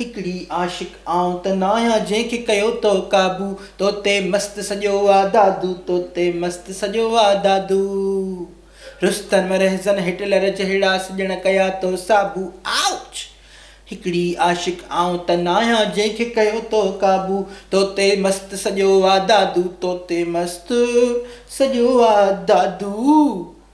هڪڙي عاشق آئون ته ناهيان جنهن کي ڪيو تو قابو تو تي مست سڄو آ دادو تو تي مست سڄو آ دادو رستم رهزن هٽلر جهڙا سڄڻ ڪيا تو صابو Ouch! هڪڙي عاشق آئون ته ناهيان جنهن کي ڪيو تو قابو تو تي مست سڄو آ دادو تو تي مست سڄو آ دادو.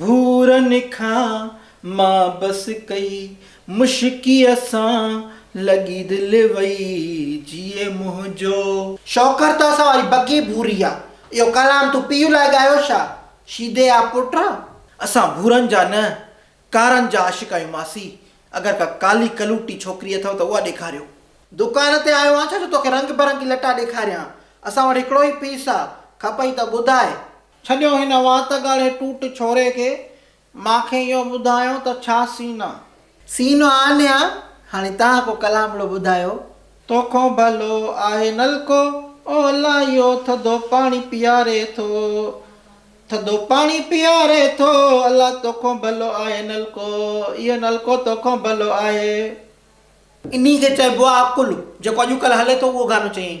ڀورن کان مان بس ڪئي مشڪيء سان لڳي دل وئي جيئي منهنجو. شوڪر تو سان وري بگي ڀوري آ. اهو ڪلام تون پيء لاء ڳايو ڇا؟ شيدي آ پٽ. اسان ڀورن جا نه ڪارن جا عاشق آهيون ماسي اگر ڪا ڪالي ڪلوٽي ڇوڪري اٿئو ته اها ڏيکاريو. دڪان تي آيو آهين ڇا جو توکي رنگ برنگي لٽا ڏيکاريان. اسان وٽ هڪڙو ئي پيس آ کپئي ته ٻڌاء. ڇڏيو هن وات ڳاڙهي ٽوٽ ڇوري کي، مان کي اهو ٻڌايو ته ڇا سين آ؟ سين آ نيا، هاڻي تهان ڪو ڪلامڙو ٻڌايو. توکون ڀلو آهي نلڪو، او الله اهو ٿڌو پاڻي پياري ٿو، ٿڌو پاڻي پياري ٿو، الله توکون ڀلو آهي نلڪو، اهو نلڪو توکون ڀلو آهي. انهي کي چئبو آ عقل، جيڪو اڄڪلهه هلي ٿو اهو گانو چيائين.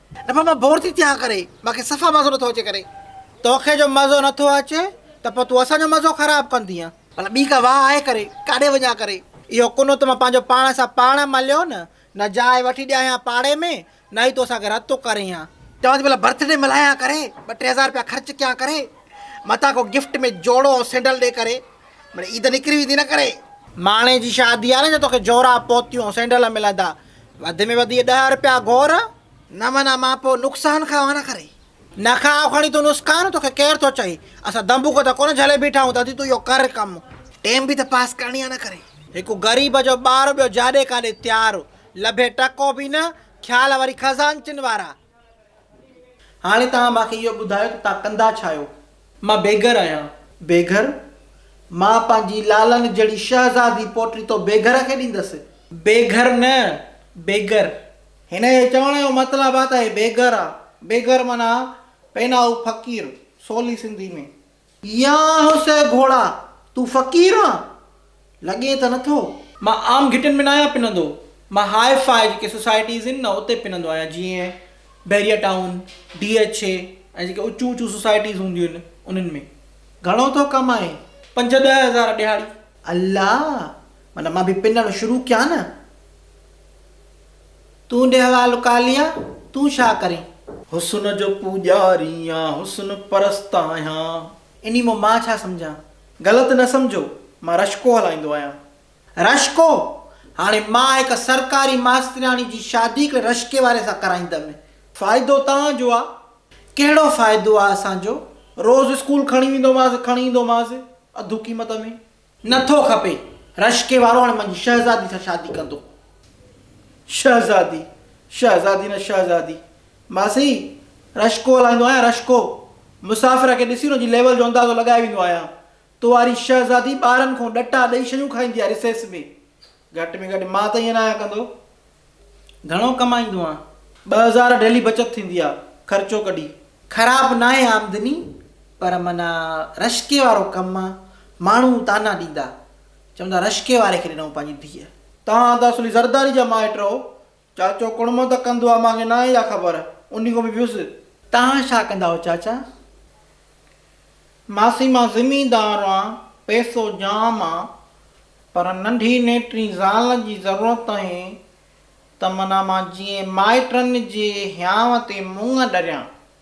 نه پوء مان بور ٿي ٿيان ڪري مان کي صفا مزو نٿو اچي ڪري. توکي جو مزو نٿو اچي ته پوء تون اسان جو مزو خراب ڪندينء. ڀلا ٻي ڪا واهه آهي ڪري ڪاڏي وڃان ڪري. اهو ڪنو ته مان پنهنجو پاڻ سان پاڻ مليو نه نه جاء وٺي ڏيانء پاڙي ۾ نه ئي تون اسان کي رتو ڪرين ها. چوان ٿي ڀلا برٿ ڊي ملهايان ڪري ٻه ٽي هزار رپيا خرچ ڪيان ڪري متان ڪو گفٽ ۾ جوڙو ۽ سينڊل ڏي ڪري مڙي عيد نڪري ويندي نه ڪري. ماڻهي جي شادي آهي نه جو توکي جورا پوتيون سينڊل ملندا وڌ ۾ وڌ اهي ڏهه رپيا گهور، نه منا مان پوء نقصان کان وانه ڪري. نه کاء کڻي تون نسڪان، توکي ڪير ٿو چئي، اسان دنبوڪ ته ڪونه جهلي بيٺا آهيون، دادي تون اهو ڪر ڪم، ٽيم به ته پاس ڪرڻي آهي نه ڪري. هڪ غريب جو ٻار ٻيو جاڏي ڪاڏي تيار، لڀي ٽڪو به نه، خيال وري خزانچن وارا. هاڻي توهان مان کي اهو ٻڌايو ته توهان ڪندا ڇا آهيو؟ مان بيگهر آهيان. بيگهر؟ مان پنهنجي لالن جهڙي شهزادي پوٽڙي تو بيگهر کي ڏيندس. بيگهر نه، بيگر. هن جي چوڻ جو مطلب آ ته هي بيگهر آ. بيگهر معنيٰ پينائو فقير، سولي سنڌي ۾. يا هوسي گهوڙا، تون فقير آن؟ لڳي ته نٿو. مان عام گهٽين ۾ ناهيان پنندو. مان هاء فاء جيڪي سوسائٽيز هن نه اتي پنندو آهيان جيئن Bahria town, D H A ۽ جيڪي اچون اچون سوسائٽيز هونديون هن انهن ۾. گهڻو ٿو ڪمائين؟ پنج ڏهه هزار ڏهاڙي. الله! معنيٰ مان به پنڻ شروع ڪيان نه. تون ڏي حوال ڪاليا، تون ڇا ڪرين؟ حسن جو پوڄاري آن حسن پرست آهيان. انهي مان مان ڇا سمجهان؟ غلط نه سمجهو، مان رشڪو هلائيندو آهيان. رشڪو! هاڻي مان هڪ سرڪاري ماسترياڻي جي شادي هڪڙي رشڪي واري سان ڪرائيندم. فائدو توهان جو آ. ڪهڙو فائدو آ اسان جو؟ روز اسڪول کڻي ويندومانس، کڻي ايندومانس، اڌ قيمت ۾. نه ٿو کپي. رشڪي وارو هاڻي منهنجي شهزادي سان شادي ڪندو. شهزادي! شهزادي نه شهزادي. ماسي! رشڪو هلائيندو آهيان رشڪو. مسافر کي ڏسي ان جي ليول جو اندازو لڳائي ويندو آهيان. تو واري شهزادي ٻارن کون ڏٽا ڏئي شيون کائيندي آهي رسيس ۾. گهٽ ۾ گهٽ مان ته ائين نه آهيان ڪندو. گهڻو ڪمائيندو آهيان. ٻه هزار ڊيلي بچت ٿيندي آهي خرچو ڪڍي. خراب ناهي آمدني پر معنيٰ رشڪي وارو ڪم آهي. ماڻهو طعنا ڏيندا. چوندا رشڪي واري کي ڏنائون پنهنجي ڌيء. توهان ته اصلي زرداري جا مائٽ رهو. چاچو ڪڙمو ته ڪندو آ، مان کي ناهي اها خبر، انهي کان به ويس. توهان ڇا ڪندا آهيو چاچا؟ ماسي مان زميندار آهيان، پئسو جام آ، پر ننڍي نيٽري زال جي ضرورت آهي ته منا مان جيئن مائٽن جي هيانء تي منڱ ڏريان.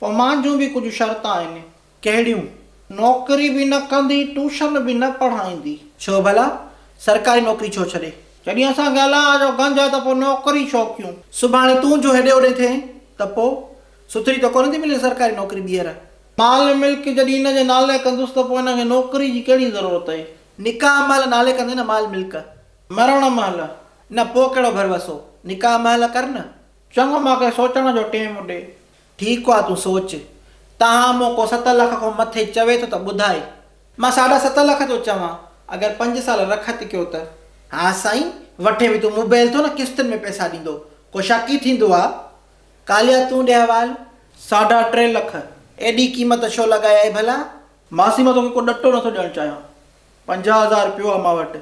پوء مان جون به ڪجهه شرط آهن. ڪهڙيون؟ نوڪري به نه ڪندي، ٽوشن به نه پڙهائيندي. ڇو ڀلا؟ سرڪاري نوڪري ڇو ڇڏي؟ جڏهن اسان کي الاء جو گنج آهي ته پوء نوڪري ڇو ڪيون؟ سڀاڻي تون جو هيڏي هوڏي ٿئين ته پوء؟ سٿري ته ڪونه ٿي ملي سرڪاري نوڪري ٻيهر؟ مال ملڪ جڏهن هن جي نالي ڪندس ته پوء هن کي نوڪري جي ڪهڙي ضرورت آهي؟ نڪاح مهل نالي ڪندين نه مال ملڪ. مرڻ مهل؟ نه پوء ڪهڙو ڀروسو؟ نڪاح مهل ڪر نه. چڱو مان کي سوچڻ جو ٽيم ڏي. ٺيڪ آ تون سوچ. تاهم مون ڪو ست لک کان مٿي چوي ٿو ته ٻڌاء. مان ساڍا ست لک ٿو چوان اگر پنج سال رخت ڪيو ته. ها سائين وٺي به تون مبيل ٿو نه قسطن ۾ پئسا ڏيندو ڪو شڪ ئي ٿيندو آ. ڪاليا تون ڏي حوال. ساڍا ٽي لک ايڏي قيمت ڇو لڳايائي ڀلا؟ ماسي مان توکي ڪو ڏٽو نٿو ڏيڻ چاهيان پنجاهه هزار پيو آهي مان وٽ.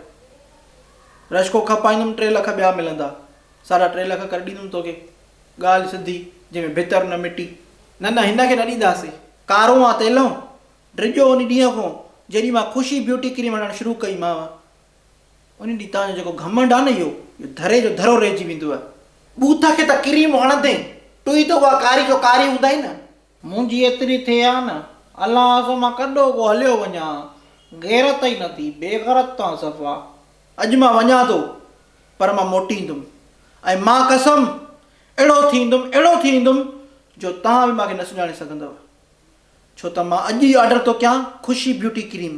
رشڪو کپائيندم ٽي لک ٻيا ملندا. ساڍا ٽي لک ڪري ڏيندم توکي. ڳالهه سڌي، جنهن ۾ ڀتر نه مٽي. نه نه هن کي نه ڏينداسين. ڪارون آ تيلون! ڊڄو ان ڏينهن کون جڏهن مان خوشي بيوٽي ڪريم هڻڻ شروع ڪئي مانء. ان ڏينهن تان جو جيڪو گهمنڊ آ نه اهو اهو ڌري جو ڌرو رهجي ويندو آهي. بوٿ کي ته ڪريم هڻندين، تون ئي ته اها ڪاري جو ڪاري هوندائين نه. منهنجي ايتري ٿئي ها نه، الله اسان مان ڪڏو ڪو هليو وڃان ها، غيرت ئي نه ٿي، بيغرت تان صفا. اڄ مان وڃان ٿو، پر مان موٽي ايندم، ۽ مان قسم، اهڙو ٿي ايندم، اهڙو ٿي ايندم، جو توهان به مان کي نه سڃاڻي سگهندؤ، ڇو ته مان اڄ ئي آرڊر ٿو ڪيان Khushi beauty cream,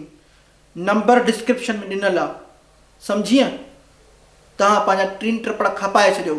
number description ۾ ڏنل آ، سمجهيئه؟ توهان پنهنجا ٽين ٽپڙ کپائي ڇڏيو،